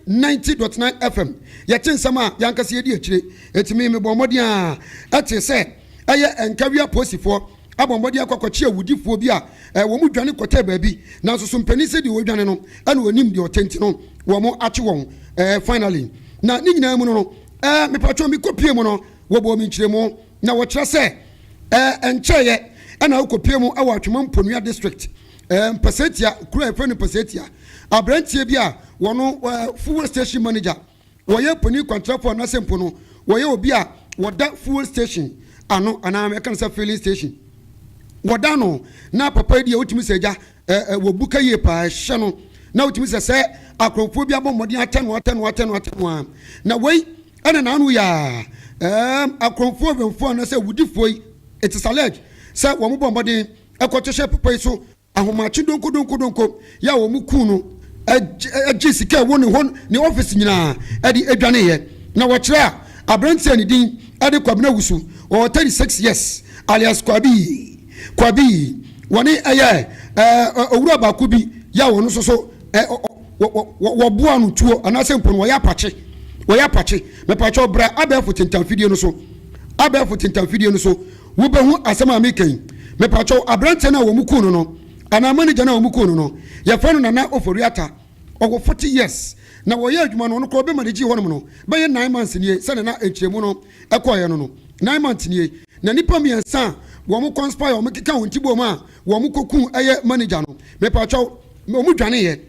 Ninety dot nine FM yɛte nsɛm a yɛn ankasa yɛdi akyire eti me mebɔɔ mmɔden ara ɛtee sɛ ɛyɛ Nkawia apolisifoɔ abɔ mmɔden akɔ akɔkye awudifoɔ bi a wɔn dwane kɔtɛɛ baabi nanso so mpanin sɛ deɛ ɔredwane no na ɔnim deɛ ɔte nti no wɔn akye wɔn finally na ne nyinaa mu no no ɛɛ mepatwɔ mekɔ pie mu no wɔbɔɔ me nkyerɛmu na wɔkyerɛ sɛ ɛɛ ɛnkyɛeɛ ɛna wokɔ pie mu ɛwɔ Atwema Mponua district Ɛɛ mpasatia kuro a yɛfrɛ no mpasatia aberanteɛ bi a wɔno ɛɛ fuel station manager wɔyɛ poni kwantrafo anaasɛ mpo no wɔyɛ obi a wɔda fuel station ano anaa yɛka no sɛ filling station wɔda no na papa yi deɛ wotumi sɛ agya ɛɛ wɔ buka yie paa ɛhyɛ no na wotumi sɛ sɛ akorɔmfoɔ bi abɔ mmɔden atɛ no atɛ no atɛ no atɛ no a na wei ɛna n'ano yɛ a ɛɛ akorɔmfoɔ wɛmfoɔ anaasɛ wudifoɔ yi it is alleged sɛ wɔn bɔ mmɔden ɛkɔto hyɛ papa yi so ahomakye donkodonkodonko yɛ a wɔn kuu no gye sika ɛwɔ ne hɔ ne ɔfisi nyinaa ɛde adwaneeɛ na wɔkyerɛ a aberanteɛ a ne din ɛde Kwabena Wusu ɔwɔ 36 years alias Kwabi Kwabi wɔne ɛyɛ owura baako bi yɛ a wɔn nso so wɔboa no tuo anaasɛ mpo no wɔyɛ apakye wɔyɛ apakye mepatwɛ ɔbra abɛɛfo tentamfidie no so abɛɛfo tentamfidie no so Wobɛhu asɛm a meka yi. Mepakyɛw, aberanteɛ no a wɔn kuu no no, anaa manager no a wɔn kuu no no, yɛfrɛ no Nana Ofori-Atta. Ɔwɔ forty years. Na wɔyɛɛ adwuma no, ɔno koraa obi managyee hɔnom no, bɛyɛ nine months nie, sɛdeɛ na nkyerɛmu no kɔeɛ no no. Nine months nie. Na nnipa mmiɛnsa a wɔn conspire, wɔn keka wɔn ti boom a wɔn kɔkuu ɛyɛ manager no, mepakyɛw, wɔn dwaneeɛ.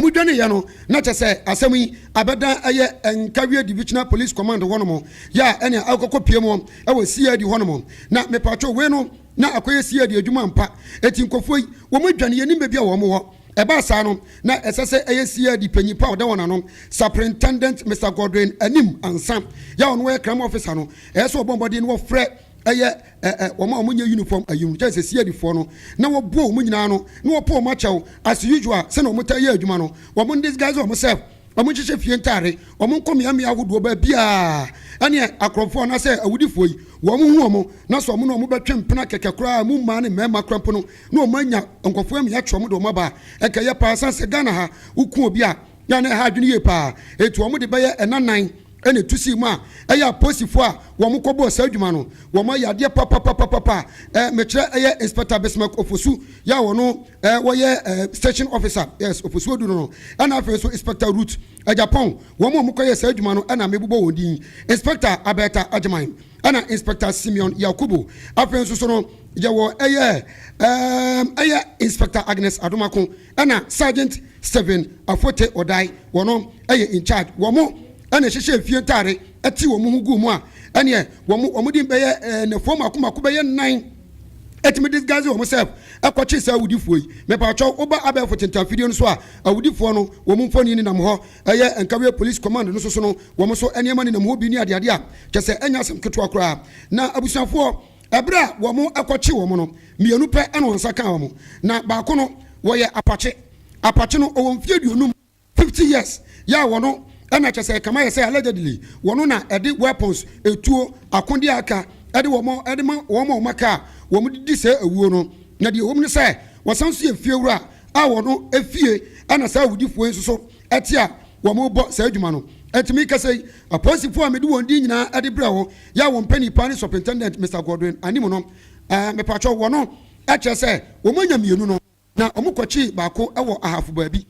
Wɔdwaneeɛ no, na kyerɛ sɛ asɛm yi abɛdan ɛyɛ Nkawie Divisional Police Command hɔnom, yɛ a ɛnea akɔkɔ pue mu wɔ CID hɔnom. Na mepaatwo, wei no na akɔyɛ CID adwuma ampa. Enti nkurɔfoɔ yi, wɔn adwane, yɛnnim baabi a wɔn wɔ. Ɛbaa saa no, na ɛsɛ sɛ ɛyɛ CID panyin pa a ɔda wɔn ano, Superintendent Mister Godwin anim ansa, yɛ a ɔno yɛ Crime Officer no, ɛyɛ sɛ wɔbɔ mmɔden na wɔfrɛ ɛyɛ. ɛɛ wɔn a wɔnyɛ uniform ayi no kyɛ sɛ CID foɔ no na wɔbɔ wɔn nyinaa no na wɔpɔ wɔn akyɛw as usual sɛnea wɔn taa yɛ adwuma no wɔn disguise wɔn self wɔn nhyehyɛ fie ntaare wɔn nkɔ mmeammea ahodoɔ baabiara ɛne akorɔmfoɔ anaasɛ awudifoɔ yi wɔn hu wɔn na sɛ wɔn na wɔn bɛtwe mpena kɛkɛ koraa mu mmaa ne mmarima koraa mpo no na wɔn anya nkɔfoɔ amia atwe wɔn de wɔn aba ɛkɛyɛ paa san sɛ Ghana ha woku obi a na na ɛha adwene yie paa etu wɔn de bɛyɛ ɛnanan Ɛna etu sii mu a, ɛyɛ apolisifo a wɔkɔbɔɔ saa adwuma no, wɔayɛ adeɛ papapapapa a, eh, mekyerɛ ɛyɛ Inspector Bismarck Ofosu, yɛ a ɔno, eh, wɔyɛ, eh, Station Officer, yes, Ofosu Odu no no, ɛna afei nso Inspector Ruth Agyapong, wɔn a wɔkɔyɛɛ saa adwuma no na mebobɔ wɔn din, Inspector Aberta Agyeman, ɛna Inspector Simeon Yakubu. Afei nso so no, yɛwɔ ɛyɛ, eh, ɛyɛ Inspector Agnes Adomako. ɛna Sergeant Stephen Afote Odai wɔno ɛyɛ in charge wɔmo ɛna ɛhyehyɛɛ fie ntaare ɛtee wɔmo ho guu mu a ɛneɛ wɔmo wɔmo din bɛyɛ ɛɛ nɛfoɔ mako mako bɛyɛ nnan ɛtumi disguise wɔmo self ɛkɔkye saa awudifoɔ yi mepaakyɛw woba abɛɛfo tentanfidie no so a awudifoɔ no wɔmo mfoni nenam hɔ ɛyɛ Nkawie Police Command no so sono wɔmo so ɛneɛma nenam hɔ bi ne adeade a kyɛsɛ ɛnyɛ asɛm ketewa koraa na abusuafoɔ Ɛberɛ a wɔkɔkyee wɔn no, mmienu pɛ na wɔn nsa kaa wɔn, na baako no, wɔyɛ apakye. Apakye no, ɔwɔ mfeɛ aduonum, 50 years, yɛ a wɔn na kyerɛ sɛ ɛkame ayɛ sɛ allegedly wɔn na ɛde weapons, etuo, akodeɛ a aka de wɔn de ma wɔn a wɔaka a wɔde di saa awuo no. Na deɛ ɛwɔ mu ne sɛ, wɔsan nso yɛ fiewura a wɔn fie na saa awudifoɔ yi nso so te a wɔrebɔ saa adwuma no. Enti mekasa yi, apolisifoɔ a mede wɔn din nyinaa de brɛ wo Yɛ a wɔn mpanin paa ne Superintendent Mister Godwin anim no, ɛɛ, mepakyɛw, wɔ no, ɛkyerɛ sɛ wɔn anya mmienu no, na wɔkɔkyii baako wɔ Ahafo baabi,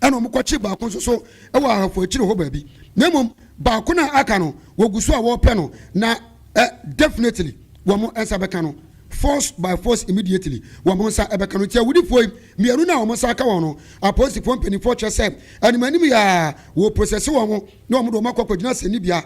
ɛna wɔkɔkyii baako nso so wɔ Ahafo akyiri hɔ baabi, na mmom baako no a aka no, wɔgu so a wɔrepɛ no, na ɛ, definitely, wɔn nsa bɛka no, force by force immediately, wɔn nsa bɛka no. Nti awudifoɔ yi, mmienu no a wɔn nsa aka wɔn no, apolisifoɔ mpaninfoɔ kyerɛ sɛ, anim anim yi ara, wɔreprosɛse wɔn, na wɔde wɔn akɔ akɔgyina asɛnnibea,